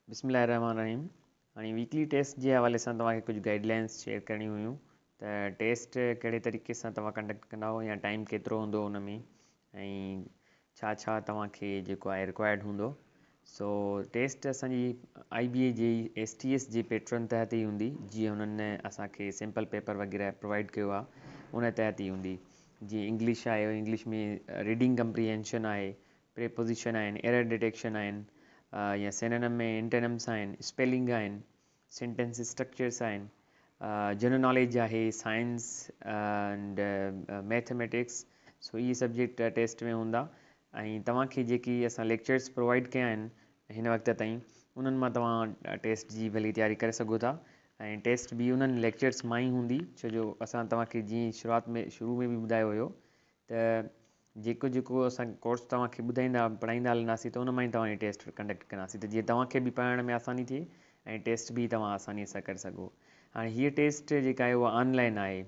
بسم الله الرحمن الرحيم هاڻي ويڪلي ٽيسٽ جي حوالي سان توهان کي ڪجهه گائيڊ لائنس شيئر ڪرڻيون هيون ته ٽيسٽ ڪهڙي طريقي سان توهان ڪنڊڪٽ ڪندا يا ٽائيم ڪيترو هوندو ان ۾ ۽ ڇا ڇا توهان کي جيڪو آهي رڪوائرڊ هوندو سو ٽيسٽ اسان جي آئي بي اي جي ايس ٽي ايس جي پيٽرن تحت ئي هوندي جيئن هنن اسان کي سيمپل پيپر وغيره پرووائيڊ ڪيو آهي ان تحت ئي هوندي جيئن انگلش آهي انگلش ۾ ريڊنگ ڪمپريهينشن آهي پريپوزيشن آهن ايرر ڊٽيڪشن آهن يا سيننم ۽ انٽينمس آهن اسپيلنگ آهن سينٽينس اسٽرڪچرس آهن. جنرل ناليج آهي، سائنس اينڊ ميٿميٽڪس سو اهي سبجيڪٽ ٽيسٽ ۾ هوندا ۽ توهان کي جيڪي اسان ليڪچرس پرووائيڊ ڪيا آهن هن وقت تائين انهن مان توهان ٽيسٽ جي ڀلي تياري ڪري سگهو ٿا ۽ ٽيسٽ به انهن ليڪچرس مان ئي هوندي ڇو جو اسان توهان کي جيئن شروعات ۾ شروع ۾ به ٻڌايو هيو ته جيڪو جيڪو اسان ڪورس توهان کي ٻڌائيندا پڙهائيندا هلنداسين ته ان مان ئي توهان جي ٽيسٽ ڪنڊڪٽ ڪنداسين ته جيئن توهان کي به پڙهائڻ ۾ آساني ٿئي ۽ ٽيسٽ به توهان آساني سان ڪري سگهو هاڻي هيء ٽيسٽ جيڪا آهي اها آن لائن آهي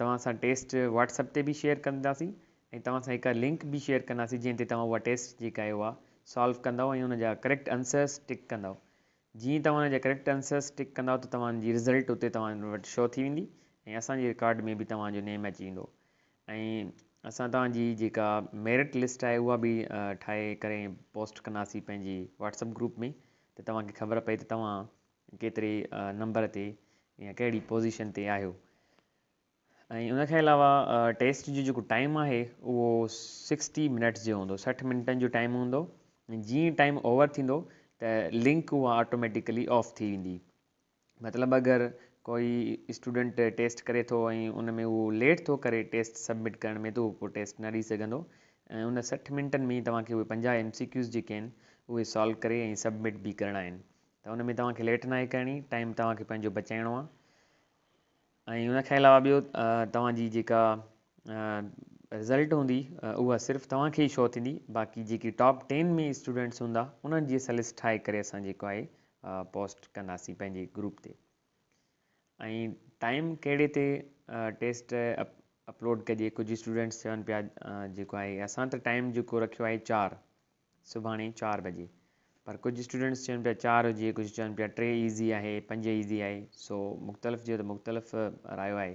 توهان سان ٽيسٽ واٽس اپ تي به شيئر ڪنداسين ۽ توهان سان هڪ لنڪ به شيئر ڪنداسين جنهن تي توهان اها ٽيسٽ جيڪا آهي اها سالو ڪندو ۽ ان جا ڪريڪٽ انسرس ٽڪ ڪندو جيئن ئي توهان ان جا ڪريڪٽ انسرس ٽڪ ڪندؤ ته توهان جي رزلٽ اتي توهان وٽ شو ٿي ويندي ۽ اسان جي رڪارڊ ۾ به توهان جو نيم اچي ويندو ۽ اسان توهان جي جيڪا ميرٽ لسٽ آهي اها به ٺاهي ڪري پوسٽ ڪنداسين پنهنجي واٽسپ گروپ ۾ ته توهان کي خبر پئي ته توهان ڪيتري نمبر تي يا ڪهڙي پوزيشن تي آهيو. ۽ ان کان علاوه ٽيسٽ جو جيڪو ٽائيم آهي اهو سڪسٽي منٽس جو هوندو سٺ منٽن جو ٽائيم هوندو جيئن ئي ٽائيم اوور ٿيندو ته لنڪ اها آٽوميٽيڪلي آف ٿي ويندي مطلب اگر ڪوئي اسٽوڊنٽ ٽيسٽ ڪري ٿو ۽ ان ۾ اهو ليٽ ٿو ڪري ٽيسٽ سبمٽ ڪرڻ ۾ ته اهو پوء ٽيسٽ نه ڏئي سگهندو ۽ ان سٺ منٽن ۾ توهان کي اهي پنجاهه ايم سي ڪيوز جيڪي آهن اهي سالو ڪري ۽ سبمٽ به ڪرڻا آهن ته ان ۾ توهان کي ليٽ ناهي ڪرڻي ٽائيم توهان کي پنهنجو بچائڻو آهي ۽ ان کان علاوه ٻيو توهان جي جيڪا رزلٽ هوندي اها صرف توهان کي ئي شو ٿيندي باقي جيڪي ٽاپ ٽين ۾ اسٽوڊنٽس هوندا انهن جي اسان لسٽ ٺاهي ڪري اسان جيڪو آهي پوسٽ ڪنداسين پنهنجي گروپ تي ۽ ٽائيم ڪهڙي تي ٽيسٽ اپلوڊ ڪجي ڪجهه اسٽوڊنٽس چون پيا جيڪو آهي اسان ته ٽائيم جيڪو رکيو آهي چار سڀاڻي چار بجي پر ڪجهه اسٽوڊنٽس چون پيا چار هجي ڪجهه چون پيا ٽي ايزي آهي پنج ايزي آهي سو مختلف جيو ته مختلف رايو آهي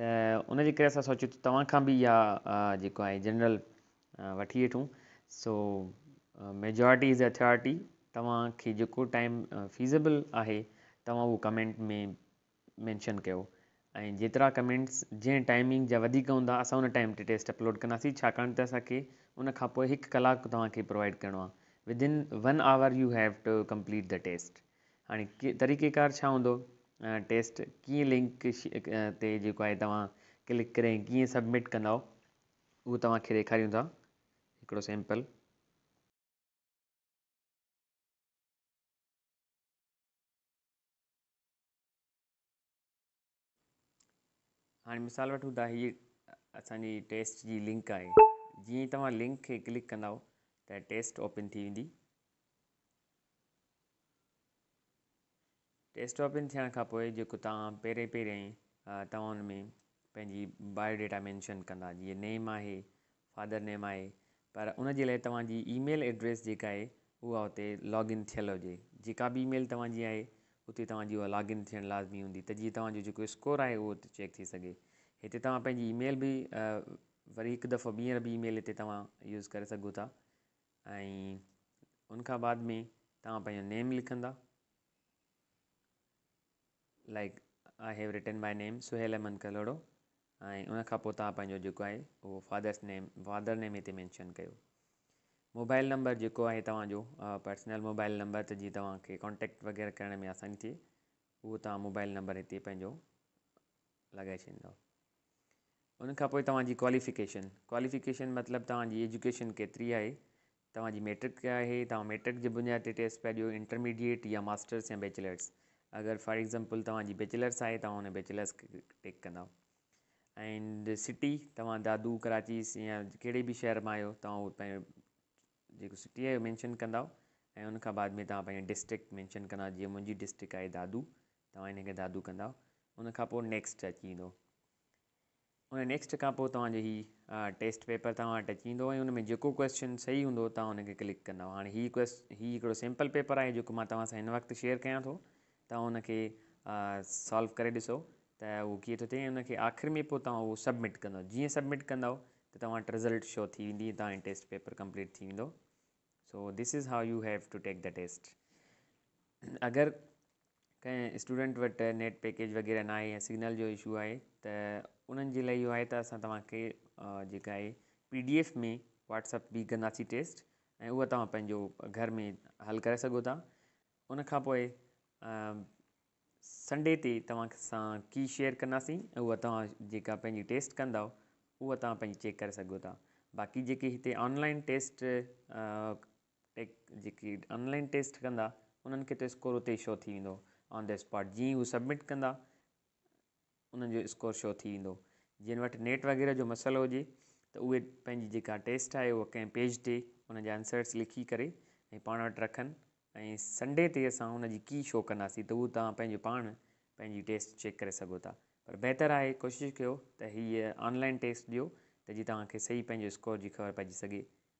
ته ان جي ڪري اسان سوچيو ته توهان کان به اها جيڪو آهي جنرل وٺي وٺون سو ميجارٽي از اٿارٽي توهان کي جيڪو ٽائم فيزبل آهي توهان اهو ڪمينٽ ۾ مينشن ڪيو ۽ جيترا ڪمينٽس جنهن ٽائمنگ جا وڌيڪ هوندا اسان ان ٽائيم تي ٽيسٽ اپلوڊ ڪنداسين ڇاڪاڻ ته اسان کي ان کان پوء هڪ ڪلاڪ توهان کي پرووائيڊ ڪرڻو آهي Within one hour you have to complete the test هاڻي طريقي ڪار ڇا هوندو ٽيسٽ ڪيئن لنڪ تي جيڪو آهي توهان ڪلڪ ڪري ڪيئن سبمٽ ڪندا اهو توهان کي ڏيکاريون ٿا هڪڙو سيمپل هاڻي مثال وٺون ٿا هي اسان جي ٽيسٽ جي لنڪ آهي جيئن ئي توهان لنڪ کي ڪلڪ ڪندا ته ٽيسٽ اوپن ٿي ويندي ٽيسٽ اوپن ٿيڻ کان پوء جيڪو توهان پهرين پهرين توهان ان ۾ پنهنجي بايو ڊيٽا مينشن ڪندا جيئن نيم آهي فادر نيم آهي پر ان جي لاء توهان جي اي ميل ايڊريس جيڪا آهي اها اتي لاگ ان ٿيل هجي جيڪا به اي ميل توهان جي آهي اتي توهان جي اها لاگ ان ٿيڻ لازمي هوندي ته جيئن توهان جو جيڪو اسڪور آهي اهو اتي چيڪ ٿي سگهي هتي توهان پنهنجي اي ميل به وري هڪ دفعو ٻيهر به اي ميل هتي توهان يوز ڪري سگهو ٿا ۽ ان کان بعد ۾ توهان پنهنجو نيم لکندا Like I have written my name Sohail Ahmed Kalhoro ۽ ان کان پوء توهان پنهنجو جيڪو آهي اهو فادرس نيم فادر نيم هتي مينشن ڪيو موبائل نمبر جيڪو آهي توهان جو پرسنل موبائل نمبر ته جي توهان کي ڪانٽيڪٽ وغيره ڪرڻ ۾ آساني ٿئي اهو توهان موبائل نمبر هتي پنهنجو لڳائي ڇڏيندو ان کان پوء توهان جي ڪواليفڪيشن ڪواليفڪيشن مطلب توهان جي ايجوڪيشن ڪيتري آهي توهان جي ميٽرڪ ڪئي آهي، توهان ميٽرڪ جي بنياد تي ٽيسٽ پيا ڏيو، انٽرميڊيئيٽ يا ماسٽرس يا بيچلرس. اگر فار ايگزامپل توهان جي بيچلرس آهي توهان ان بيچلرس کي ٽڪ ڪندا. اينڊ سٽي توهان دادو، ڪراچي يا ڪهڙي به شهر مان آهيو توهان اهو پنهنجو جيڪو سٽي آهي اهو مينشن ڪندا ۽ ان کان بعد ۾ توهان پنهنجو ڊسٽرڪٽ مينشن ڪندا جيئن منهنجي ڊسٽرڪٽ آهي دادو توهان ان کي دادو ڪندا ان کان پوء نيڪسٽ اچي ويندو ان نيڪسٽ کان پوء توهان جو هي ٽيسٽ پيپر توهان وٽ اچي ويندو ۽ ان ۾ جيڪو ڪويسچن صحيح هوندو توهان ان کي ڪلڪ ڪندو هاڻي هي ڪويسچ هي هڪڙو سيمپل پيپر آهي جيڪو مان توهان سان هن وقت شيئر ڪيان ٿو توهان ان کي سالو ڪري ڏسو ته اهو ڪيئن ٿو ٿئي ان کي آخر ۾ پوء توهان اهو سبمٽ ڪندو جيئن سبمٽ ڪندو ته توهان وٽ رزلٽ شو ٿي ويندي توهان جو ٽيسٽ پيپر ڪمپليٽ ٿي ويندو so this is how you have to take the test اگر ڪنهن اسٽوڊنٽ وٽ نيٽ پيڪيج وغيره نه آهي يا سگنل جو اشو آهي ته انهن جي لاء اهو آهي ته اسان توهان کي جيڪا آهي پي ڊي ايف ۾ واٽسپ بي ڪنداسي ٽيسٽ ۽ اهو توهان پنهنجو گهر ۾ حل ڪري سگهو ٿا ان کان پوء سنڊي تي توهان سان ڪي شيئر ڪنداسي ۽ اهو توهان جيڪا پنهنجي ٽيسٽ ڪندو اهو توهان پنهنجي چيڪ ڪري سگهو ٿا باقي جيڪي هتي آنلائن ٽيسٽ ٽيڪ جيڪي آن لائن ٽيسٽ ڪندا انهن کي ته اسڪور اتي ئي شو ٿي ويندو آن دي اسپاٽ جيئن ئي هو سبمٽ ڪندا انهن جو اسڪور شو ٿي ويندو جن وٽ نيٽ وغيره جو مسئلو هجي ته اهي پنهنجي جيڪا ٽيسٽ آهي اها ڪنهن پيج تي ان جا آنسرس لکي ڪري ۽ پاڻ وٽ رکن ۽ سنڊي تي اسان ان جي ڪي شو ڪنداسين ته اهو توهان پنهنجو پاڻ پنهنجي ٽيسٽ چيڪ ڪري سگهو ٿا پر بهتر آهي ڪوشش ڪيو ته هيء آن لائن ٽيسٽ ڏيو ته جي توهان کي صحيح پنهنجو اسڪور جي خبر پئجي سگهي